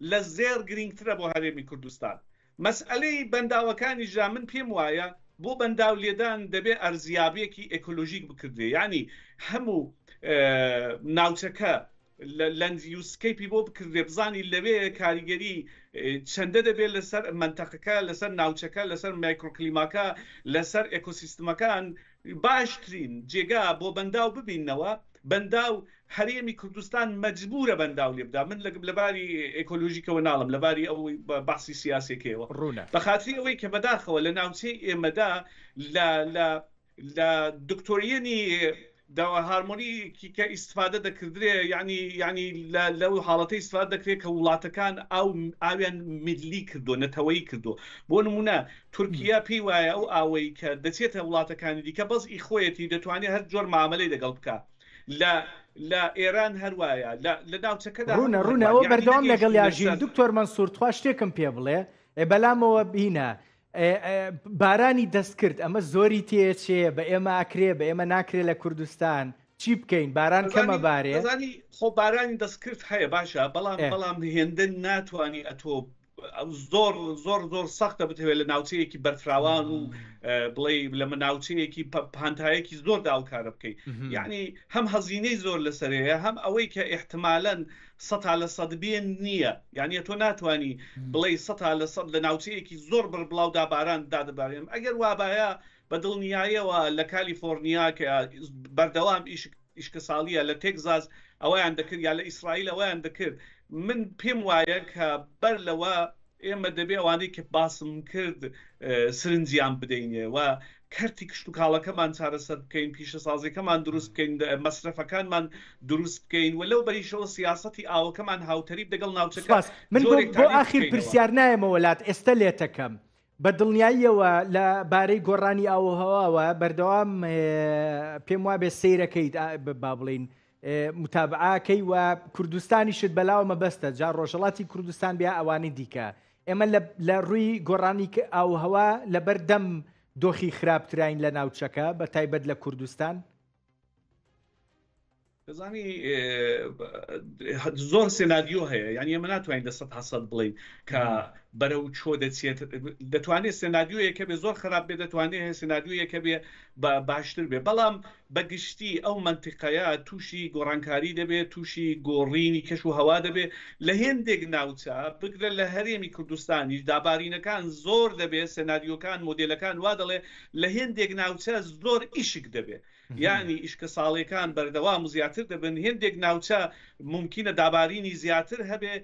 لە زێر گرنگترە بۆ هەرێمی کوردستان مەسئلەی بەنداوەکانی ژا من پێم وایە بۆ بەنداو لێدان دەبێ ئەرزیابێکی ئەکۆلۆژیک بکردێ ینی هەموو ناوچەکە لەندیوسکەیپی بۆ بکردرێ بزانی لەوێ کاریگەری چەندە دەبێت لەسەر مەنتەقەکە لەسەر ناوچەکە لەسەر مایکرۆکلیماکە لەسەر ئێکۆسیستمەکان باشترین جێگا بۆ بەنداو ببینەوە بەنداو هەرێمی کوردستان مەجبورە بەنداو لێبدا من لەباری ئێکۆلۆژیکەوە ناڵم لەباری ئەوەی باسی سیاسەکەیەوە ڕوونە بەخاتری ئەوەی کە بەداخەوە لە ناوچەی ئێمەدا لە لە دکتۆریەنی داوا هارمۆنی کیکە ئیسفادە دەکردرێ ینی ینی لەو حاڵەتی ئیسفاد دەکرێت کە وڵاتەکان ئەو ئاویان میدلی کردو نەتەوەی کردو بۆ نمونە تورکیا پێی وایە ئەو ئاوەی کە دەچێتە وڵاتەکانی دیکە بەس ئی خۆیەتی دەتوانێت هەر جۆر معاملەی دەگەڵ بکە لە لە ئێران هەروایە لە ناوچەکەدا ڕوونە ڕوونەوە بەردەوام لەگەڵ یاژین دکتۆر مەنسوور تخوا شتێکم پێ بڵێ بەلامەوە بینە بارانی دەستکرد ئەمە زۆری تێچێ بە ئێمە ئەکرێ بە ئێمە ناکرێ لە کوردستان چی بکەین باران کەمە بارێ خۆ بارانی دەستکرد هەیە باشە بەڵام بەڵام هێندە ناتوانانی ئەتۆ زۆر زۆر زۆر سەختە بتەوێت لە ناوچەیەکی بەرفراوان و بڵێ لە مناوچەیەکی پانتایەکی زۆر داوکارە بکەیت یعنی هەم هەزینەی زۆر لەسەرەیە هەم ئەوەی کە احتمالەن سەتا لە سەد بێ نییە یانە تۆ ناتوانی بڵێی سەتا لە سەد لە ناوچەیەکی زۆر بڕبڵاودا باران دادەبارێن ئەگەر وابایە بە دڵنیایەوە لە کالیفۆرنیا کە بەردەوام ئیشک ئیشکەساڵیە لە تێکزاز ئەویان دەکرد یا لە ئیسرائیل ئەویان دەکرد من پێم وایە کە بەر لەوە ئێمە دەبێ ئەوانەی کە باسم کرد سرنجیان بدەین و کەرتی کشتوکاڵەکەمان چارەسەر بکەین، پیشەسازیەکەمان دروست بکەین، مەسرەفەکانمان دروست بکەین و لەو بەریشەوە سیاسەتی ئاوەکەمان هاوتەریب دەگەڵ ناوچەکە سوپاس. من بۆ جۆرێک بۆ تاریف ئاخیر بکەینەوە. پرسیار نایەمەوە لات، ئێستە لێتەکەم. بە دڵنیاییەوە لە بارەی گۆڕانی ئاووهەواوە بەردەوام ئێ پێم وابێ سەیرەکەیت ئا ب با بڵێین متابعە کەی وە کوردستانیشت بەلاوە مەبەستە جا ڕۆژەڵاتی کوردستان بیا ئەوانی دیکە ئێمە لە ڕووی گۆڕانی ئاوهەوا لەبەر دەم دۆخی خراپتراین لە ناوچەکە بە تایبەت لە کوردستان دەزانی زۆر سناریۆ هەیە یان ئێمە ناتوانین دەسەد حسەد بڵین کە بەرە و چۆ دەچێت دەتوانێت سناریۆیەکە بێ زۆر خراپ بێ دەتوانێت سناریۆیەکە بێ باشتر بێ بەڵام بە گشتی ئەو مەنتیقەیە تووشی گۆڕانکاری دەبێت، تووشی گۆڕینی کەش و هەوا دەبێت، لە هێندێک ناوچە بگرە لە هەرێمی کوردستانیش دا بارینەکان زۆر دەبێت، سێناریۆکان، مۆدێلەکان وا دەڵێ لە هێندێک ناوچە زۆر ئیشک دەبێت، یانی ئیشکە ساڵێکان بەردەوام و زیاتر دەبن، هێندێک ناوچە مومکینە دابارینی زیاتر هەبێت،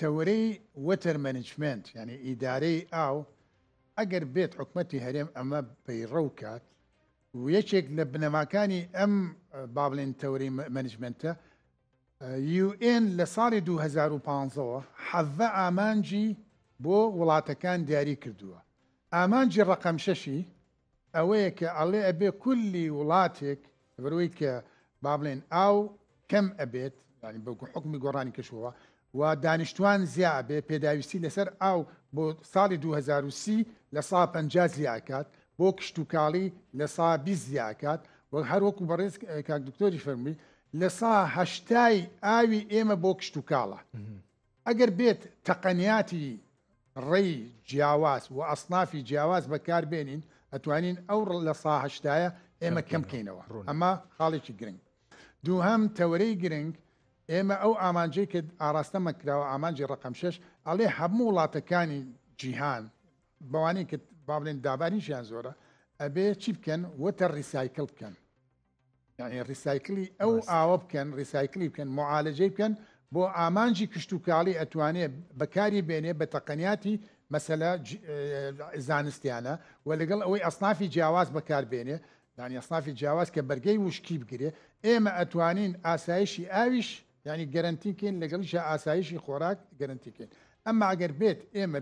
تەوەرەی وەتەر مەنیجمێنت یانی ئیدارەی ئاو ئەگەر بێت حکومەتی هەرێم ئەمە پەیڕەو کات و یەکێک لە بنەماکانی ئەم بابلێن تەوەری مەنیجمنتە UN لە ساڵی 2015ەوە حەڤە ئامانجی بۆ وڵاتەکان دیاری کردووە ئامانجی ڕقەمشەشی ئەوەیە کە ئەڵێ ئەبێ کولی وڵاتێک لەبەرەوەی کە با بڵێن ئاو کەم ئەبێت یعنی بە حکومی گۆڕانی کەشووە و دانیشتوان زیا ئەبێ پێداویستی لەسەر ئاو بۆ ساڵی 2030 لە سا پ زیاکات بۆ کشتتوکاڵی لە سا بی زیاکات وەک هەروەکو بەڕێز کاک دکتۆری فەرمی لە سا هەشتای ئاوی ئێمە بۆ کشتتوکاڵە ئەگەر بێت تەقەنیاتی ڕێی جیاواز و ئەسنافی جیاواز بەکاربێنین ئەتوانین ئەو لە ساهشتایە ئێمە کەم بکەینەوە ئەمە خاڵێکی گرنگ دووهام تەوەرەی گرنگ ئێمە ئەو ئامانجەی کە ئاراستە مەکراوە ئامانجی ڕقم شش ئەڵێ هەموو وڵاتەکانی جیهان بەوانەی کە با بڵێن داباریشیان زۆرە ئەبێ چی بکەن وەتە ڕیسایکل بکەن یعنی ڕیسایکلی ئەو ئاوە بکەن ڕیسایکلی بکەن معالجەی بکەن بۆ ئامانجی کشت و کاڵی ئەتوانێ بەکاری بێنێ بە تەقەنیاتی مەسەلا زانستیانە و لەگەڵ ئەوەی ئەسنافی جیاواز بەکار بێنێ دانی ئەسنافی جیاواز کە بەرگەی وشکی بگرێ ئێمە ئەتوانین ئاسایشی ئاویش ینی گەرنتیکەین لەگەڵیش ئاسایشی خۆراک گەرنتیکەین ئەمما ئەگەر بێت ئێمە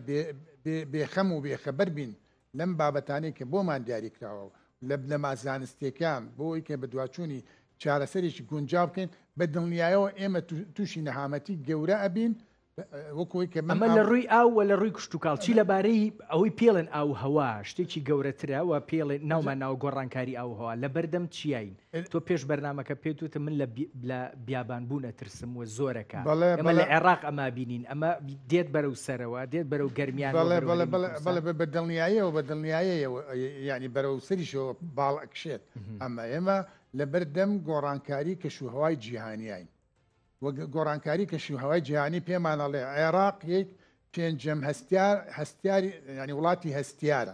بێخەم و بێخەبەر بین لەم بابەتانەی کە بۆمان دیاریکراوە و لە بنەما زانستییەکان بۆ ئەوەی کە بەدواچوونی چارەسەرێکی گونجاو بکەین، بە دڵنیایەوە ئێمە تووشی نەهامەتی گەورە ئەبین وەکو ئەوەی کە من ئەمە لە ڕووی ئاو و لە ڕووی کشتوکاڵ. چی لەبارەی ئەوەی پێڵێن ئاووهەوا شتێکی گەورەترە و پێڵێن ناومان ناوە گۆڕانکاری ئاووهەوا لەبەردەم چیاین؟ تۆ پێش بەرنامەکە پێت وتم من لە لە بیابان بوون ئەترسم و زۆرەکە بەڵێ ئێمە بەڵێ لە عێراق ئەما بینین ئەمە دێت بەرەو سەرەوە دێت بەرەو گەرمیان بەڵێ بەڵێ بەڵێ بەڵێ بەڵێ بە بە دڵنیایەوە بە دڵنیایەیەوە ئەی یانی بەرەو سەریشەوە باڵ ئەکشێت ئەمە ئێمە لەبەردەم گۆڕانکاری کەشوهەوای جیهانیین. و گۆڕانکاری کەشوهەوای جیهانی پێمان ئەڵێ عێراق یەک پێنجەم هەستیار هەستیاری ینی وڵاتی هەستیارە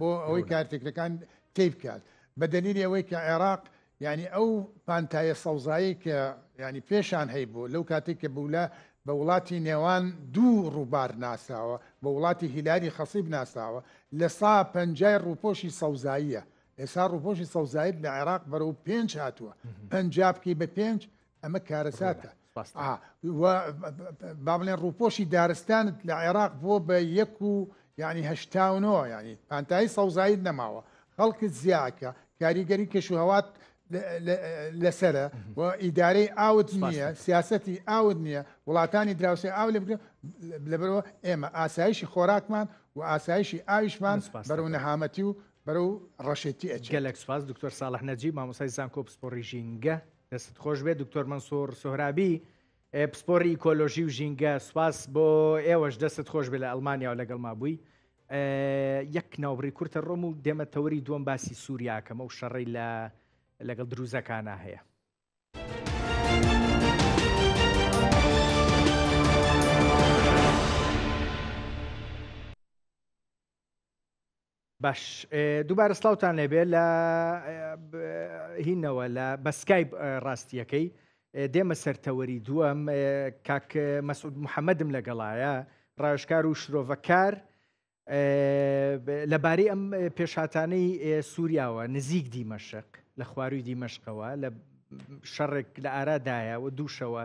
بۆ ئەوەی کارتێکەکان تی بکات بە دەلیلی ئەوەی کە عێراق ینی ئەو پانتایە سەوزایی کە ینی پێشان هەی بوو لەو کاتێک کە بوو لە بە وڵاتی نێوان دوو ڕووبار ناساوە بە وڵاتی هیلاری خەسیب ناساوە لە سا پەنجای ڕووپۆشی سەوزاییە ئێسا ڕوپۆشی سەوزایت لە عێراق بەرەو پێنج هاتووە پەنجا بکەی بە پێنج ئەمە کارەساتە با بڵێن ڕوپۆشی دارستانت لە عێراق بۆ بە یەک و ینی هەشتاونەوە ینی پانتایی سەوزایت نەماوە خەڵکت زیاکە کاریگەری کەش و هەوات لەسرە و ئیدارەی ئاوت نییە سیاستی ئاوت نییە وڵاتانی دراوسێ ئاو لە لەبەرەوە ئێمە ئاسایشی خۆراکمان و ئاسایشی ئاویشمان بەرەو نەهامەتی و بەرەو ڕەشێتی ئەچێت. گەلەک سوپاس دکتۆر ساڵح نەجیب مامۆستای زانکۆ پسپۆڕی ژینگە دەستت خۆش بێت دکتۆر مەنسوور سۆهرابی ئێ، پسپۆری ئیکۆلۆژی و ژینگە سوپاس بۆ ئێوەش دەستت خۆش بێ لە ئەلمانیا و لەگەڵ ما بووی ئێ، یەک ناوبڕی کورتە ڕۆم و دێمە تەوەری دووەم باسی سووریاکەمە و شەڕی لە لەگەڵ دروزەکانە هەیە. باش دووبارە سلااوان لێبێ لە هینەوە لە بەسکای ڕاستیەکەی دێمە سەرتەوەری دووەم کاک مەسعود محەممەدم لەگەڵایە ڕاشکار و شرۆڤەکار لەبارەی ئەم پێشاتانەی سووریاوە نزیک دیمەشق لە خواروی دیمەشقەوە لە شەڕێک لە ئارادایە و دووشەوە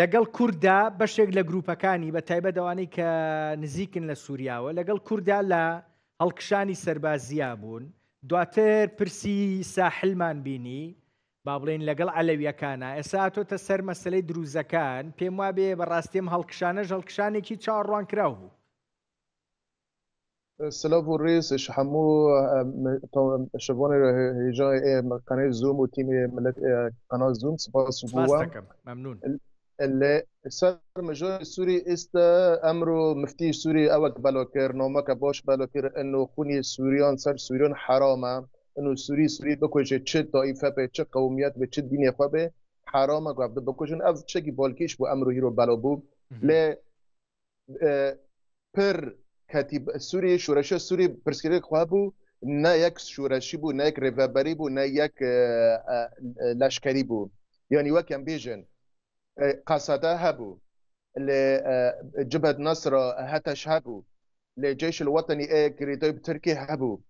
لەگەڵ کورددا بەشێک لە گروپەکانی بە تایبەت ئەوانەی کە نزیکن لە سووریاوە لەگەڵ کورددا لە هەڵکشانی سەربازیا بوون دواتر پرسی ساحلمان بینی با بڵێن لەگەڵ عەلەویەکانە ئێسا تۆتە سەر مەسلەی دروزەکان پێم وابێ بەڕاستیم هەڵکشانەش هەڵکشانێکی چاوەڕوانکراو بوو سلاڤ و ریز ش هەمو پشتڤانێ هیجای ئێ قەنەی زووم و تیم ئێ ملەت ئێ قەناس زووم سپاس و بووەم. سپاس دەکەم مەمنون. لە سەر مژاری سوری ئیستا ئەمرو مفتی سوری ئەوەک بەلا کرد نامەکە باش بەلا کرد ئنو خونی سوریان سەر سوریان حەرامە ئنو سوری سوری بکوژێ چ تائیفە بێ چ قەومیەت بێ چ دینێ خوە بێ حەرامە گاڤدە بکوژن ئەڤ چگی بالکیش بوو ئەمرو هیرۆ بەلا بوو لە پر کەتی سووری شورەشە سووری پرسکرێک خوا بوو نە یەک شورەشی بوو نەک ڕێڤەبەری بوو نە یەک لەشکری بوو یعنی وەکەم بێژن قاسەدا هەبوو لێ جبەت نەسرە هەتەش هەبوو لێ جێش وەتەنی ئەیە گریدۆی ترکی هەبوو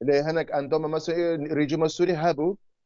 لێ هەنێک ئەندۆمە مەسە ریجیمە سووری هەبوو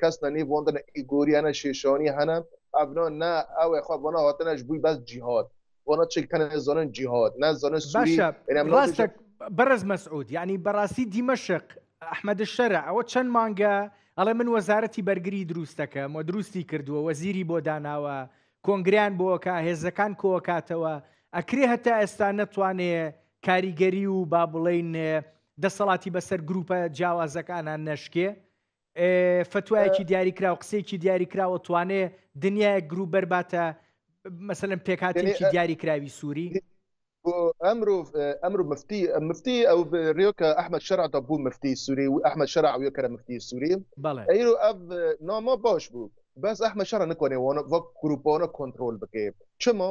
کەس نە نیڤۆن دە نە ئیگۆریا نە شێشانی هەنە ئەڤنۆ نە ئەوێ خۆ بۆنە هاتنەش بووی بەس جیهات بۆنە چێک تەنە زۆنن جیهات نە زۆنە سوری ڕاستە بەرز مەسعود یعنی بەڕاستی دیمەشق ئەحمەد شەرە ئەوە چەند مانگە ئەڵێ من وەزارەتی بەرگری دروستەکەم و دروستی کردووە وەزیری بۆ داناوە کۆنگریان بۆکە هێزەکان کۆکاتەوە ئەکرێ هەتا ئێستا نەتوانێ کاریگەری و با بڵین دەسەڵاتی بەسەر گروپە جیاوازەکانان نەشکێ فتوایەکی دیاریکراو قسێکی دیاریکراوە توانێ دنیای گروپ بەرباتە مەسەن پێکاتێکی دیاریکراوی سووری ئەمرو ئەمرو مفتی مفتی ئەو ریۆکە ئەحمد شەرع دەبوو مفتی سووری و ئەحمد شەرع وە کەرە مفتی سووری ئەیرو ئەف نامە باش بوو بەس ئەحمە شەرە نکۆێ وەک گروپۆنە کۆنتترۆل بکەێت چما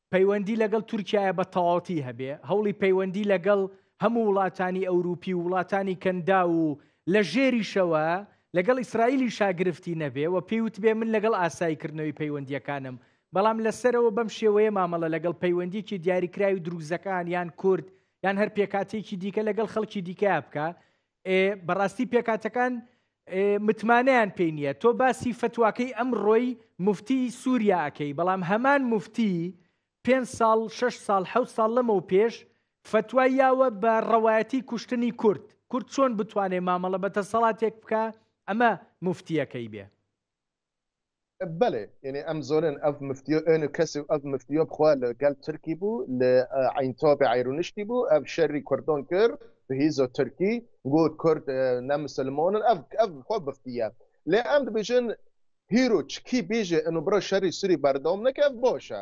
پەیوەندی لەگەڵ تورکیایە بە تەواوەتی هەبێ، هەوڵی پەیوەندی لەگەڵ هەموو وڵاتانی ئەوروپی و وڵاتانی کەنداو و لە ژێریشەوە لەگەڵ ئیسرائیلیشا گرفتی نەبێ و پێی وتبێ من لەگەڵ ئاسایی کردنەوەی پەیوەندییەکانم بەڵام لە سەرەوە بەم شێوەیە مامەڵە لەگەڵ پەیوەندییەکی دیاریکراوی دروزەکان یان کورد یان هەر پێکهاتەیەکی دیکە لەگەڵ خەڵکی دیکەیا بکا بەڕاستی پێکاتەکان متمانەیان پێی نییە تۆ باسی فتواکەی ئەم ڕۆی مفتی سووریاکەی بەڵام هەمان مفتی پێ ساڵ 6 ساڵ ح ساڵ لەمە و پێش فتوای یاوە بە ڕەوایەتی کوشتنی کورد کورد چۆن بتوانێت مامەڵە بە تەسەڵاتێک بکە ئەمە مفتیەکەی بێ بەلێ یەنی ئەم زۆنن ئەڤ مفتیۆ ئەن و کەسی و ئەڤ مفتیۆ بخوا لە گەل ترکی بوو لە عین تۆبی عیرونشتی بوو ئەڤ شەری کوردۆن کرد بهیزۆ ترکی گو کورد نە مسلمۆنن ئەڤ ئەڤ خۆ بفتیە لێ ئەم دبیژن هیرو چکی بیژێ ئەن و برۆ شەری سوری بەردەوم نەکە ئەڤ بۆشە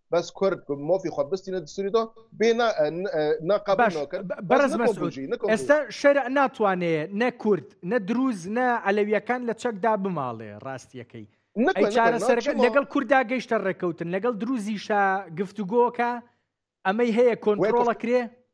بەس کورد مۆفی خۆ بستینە دسوری تۆ بێ ئێستا شەر ناتوانێ نە کورد نە دروز نە ئەلەویەکان لە چەکدا بماڵێ ڕاستیەکەی چارەسەرەکە لەگەڵ کوردا گەیشتە ڕێککەوتن لەگەڵ دروزیشە گفتوگۆکە ئەمەی هەیە کۆنترۆڵە کرێ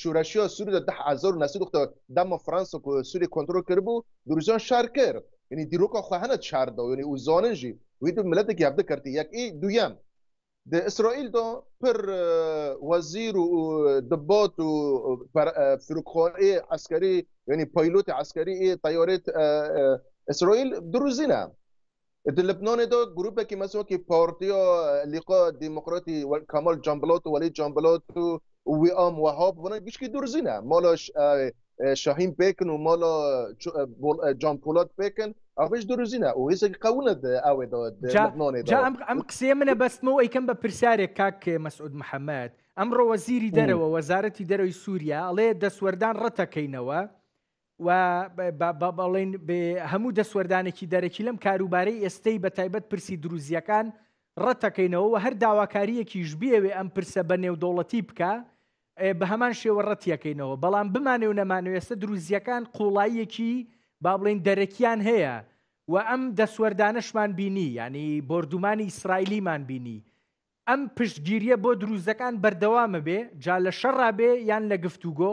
شورشی و سوری دە هەزار و نۆ سەد و حەفتا و دە دەمە فرانسە کو سوری کۆنترۆل کردبو دروزیان شار کرد یەنی دیرۆکا خوە هەنە شاردا یەنی و زانن ژی ویدو ملەتەکی هەڤدە کەرتی یەک ئی دویەم دە ئیسرائیل دا پر وەزیر و دبات و فرکخوەنئ عەسکەری یەنی پایلوت عەسکەری ئی تەیارەی ئیسرائیل دروزینە لبنانی دو گروپێکی مەس وەکی پارتی و لیقا دیموکراتی کامال جامبلات و وەلی جامبلات و ویام وەهاب بۆنە گشتی دورزینە مالا شاهین پێکن و مالا جان پولات پێکن ئەش دورزینە و هێزێکی قەونە ئەوێ ئەم قسێ منە بەستمەوە ئەیکەم بە پرسیارێک کاک مەسعود محەممەد ئەمڕۆ وەزیری دەرەوە وەزارەتی دەرەوەی سووریا ئەڵێ دەسوەردان ڕەتەکەینەوە و بەڵین هەموو دەسوەردانێکی دەرەکی لەم کاروبارەی ئێستەی بە تایبەت پرسی دروزییەکان ڕەتەکەینەوە و هەر داواکاریەکیش بێوێ ئەم پرسە بە نێودەوڵەتی بکە بە هەمان شێوە ڕەتیەکەینەوە بەڵام بمانێ و نەمانوێستە دروزیەکان قوڵاییەکی با بڵین دەرەکیان هەیە و ئەم دەسوەردانشمان بینی ینی بردومانی ئیسرائیلیمان بینی ئەم پشتگیریە بۆ دروزەکان بەردەوامە بێ جا لە شەڕا بێ یان لە گفتوگۆ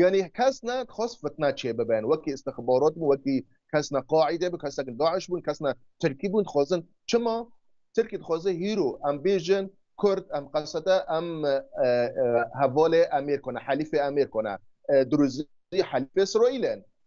یانی کەس نە خواست فتنە چێ ببن وەکی استخبارات بوو وەکی کەس نە قاعیدە بوو کەس نە داعش بوون کەس نە ترکی بوون خوازن چما ترکی دخوازێ هیرو ئەم بیژن کورد ئەم قەسەدە ئەم هەڤالێ ئەمێر کۆنە حەلیفێ ئەمێر کۆنە دروزی حەلیفێ ئیسرائیلن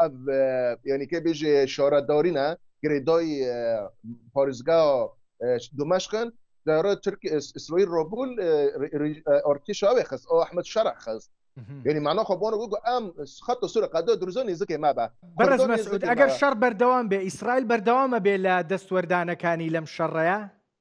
ئەڤ یانی کە بێژێ شارە دارینە گرێدای پارێزگا دمشقن دارە ترک ئیسرائیل ڕۆبول ئۆرتیش ئەوێ خست ئەو ئەحمد شەرع خست یعنی معنا خۆ بۆنە گوگو ئەم خەتە سورە قەدە درزۆ نزیکێ مابە بەرز مەسعود ئەگەر شەڕ بەردەوام بێ ئیسرائیل بەردەوامە بێ لە دەستوەردانەکانی لەم شەڕەیە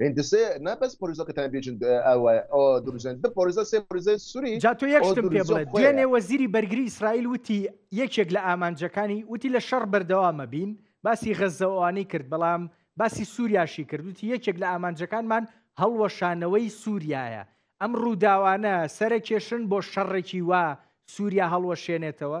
هندسێ نا بەس پۆریزۆ کە تان بیجن ئە وە ئۆ دروزێن دە پۆریزە سێ پۆریزەی سوری جا تۆ یەک شتم پێ بڵێ دوێنێ وەزیری بەرگری ئیسرائیل وتی یەکێک لە ئامانجەکانی وتی لە شەڕ بەردەوامە بین باسی غەززە ئەوانەی کرد بەڵام باسی سووریاشی کرد وتی یەکێک لە ئامانجەکانمان هەڵوەشانەوەی سووریایە ئەم ڕووداوانە سەرەکێشن بۆ شەڕێکی وا سووریا هەڵوەشێنێتەوە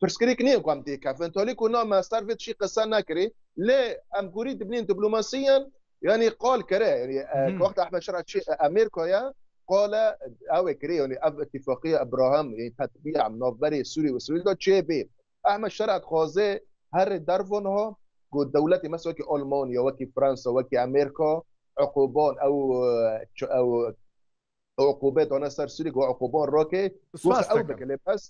پرسکریک نێ گوام دی کە فنتۆلیک و نا ماستار ڤێت شی قسە ناکری لێ ئەم گوری دبنین دبلوماسیان یعنی قال کرێ یعنی وەخت ئەحمد شرع چی ئەمیر کۆیە قال ئەوێ کرێ یعنی ئەف اتفاقی ئەبراهام یعنی تطبیع ناوبەری سوری وسویل دا چێ بێ ئەحمد شرع خوازێ هەر دەرڤۆن ها گو دەولەتی مەس وەکی ئۆلمانیا وەکی فرانسا وەکی ئەمریکا عقوبان ئەو ئەو عقوبە دۆنە سەر سوریک و عقوبۆن ڕۆکێ سواس ئەو بکە لێ بەس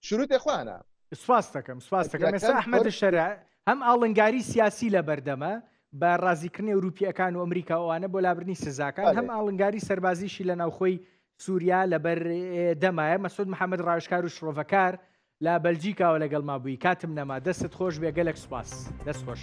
شروعی خوانە سپاس دەکەم سپاس دەکەم ئێستا ئەحمەدە شەرع هەم ئاڵنگاری سیاسی لە بەردەمە بە ڕازیکردنی ئەوروپیەکان و ئەمریکا ئەوانە بۆ لابرنی سزاکان هەم ئاڵنگاری سەربازیشی لە ناوخۆی سووریا لەبەر دەمایە مەسود محەممەد ڕاشکار و شرۆڤەکار لە بەلجیکاوە لەگەڵما بووی کاتم نەما دەستت خۆش بێ گەلەک سوپاس دەست خۆش.